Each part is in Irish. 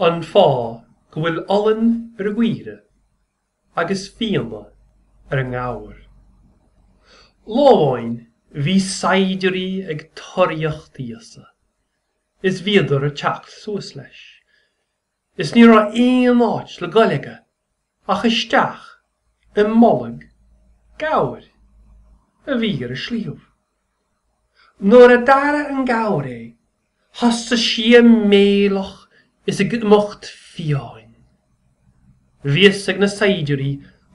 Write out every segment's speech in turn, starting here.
An fáth go bhfuil olann ar an gcaoire agus fionnadh ar an ngabhar? Lá amháin bhí saighdiúirí ag toraíocht Íosa is bhíodar ag teacht suas leis. Is ní raibh aon áit le goil aige ach isteach i mbolg gabhair a bhí ar an sliabh. Nuair a d'airigh an gabhar é, thosaigh sí ag méileach is ag imeacht fiáin. Bhí fhios ag na saighdiúirí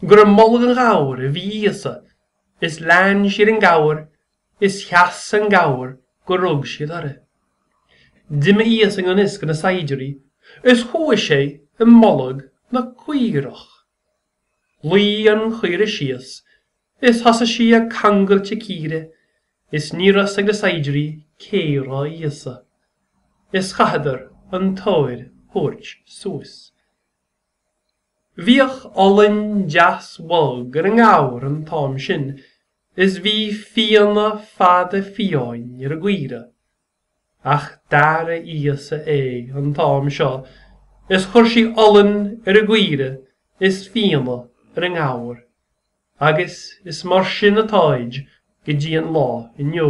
gur i mbolg an ghabhair a bhí Íosa is lean siad an gabhar Is sheas an gabhar go rug siad uirthi. D'imigh Íosa i ngan fhios go na saighdiúirí is chuaigh sé i mbolg na caorach. Luigh an chaoire síos is thosaigh sí ag cangailt a círe is ní raibh fhios ag na saighdiúirí cé raibh Íosa. Is chaitheadar an tóir a thabhairt suas. Bhíodh olainn deas bhog ar an ngabhar an t-am sin is bhí fionnadh fada fiáin ar an gcaoire, ach d'athraigh Íosa é an t-am seo is chuir sé olann ar an gcaoire is fionnadh ar an ngabhar, agus is mar sin atáid go dtí an lá inniu.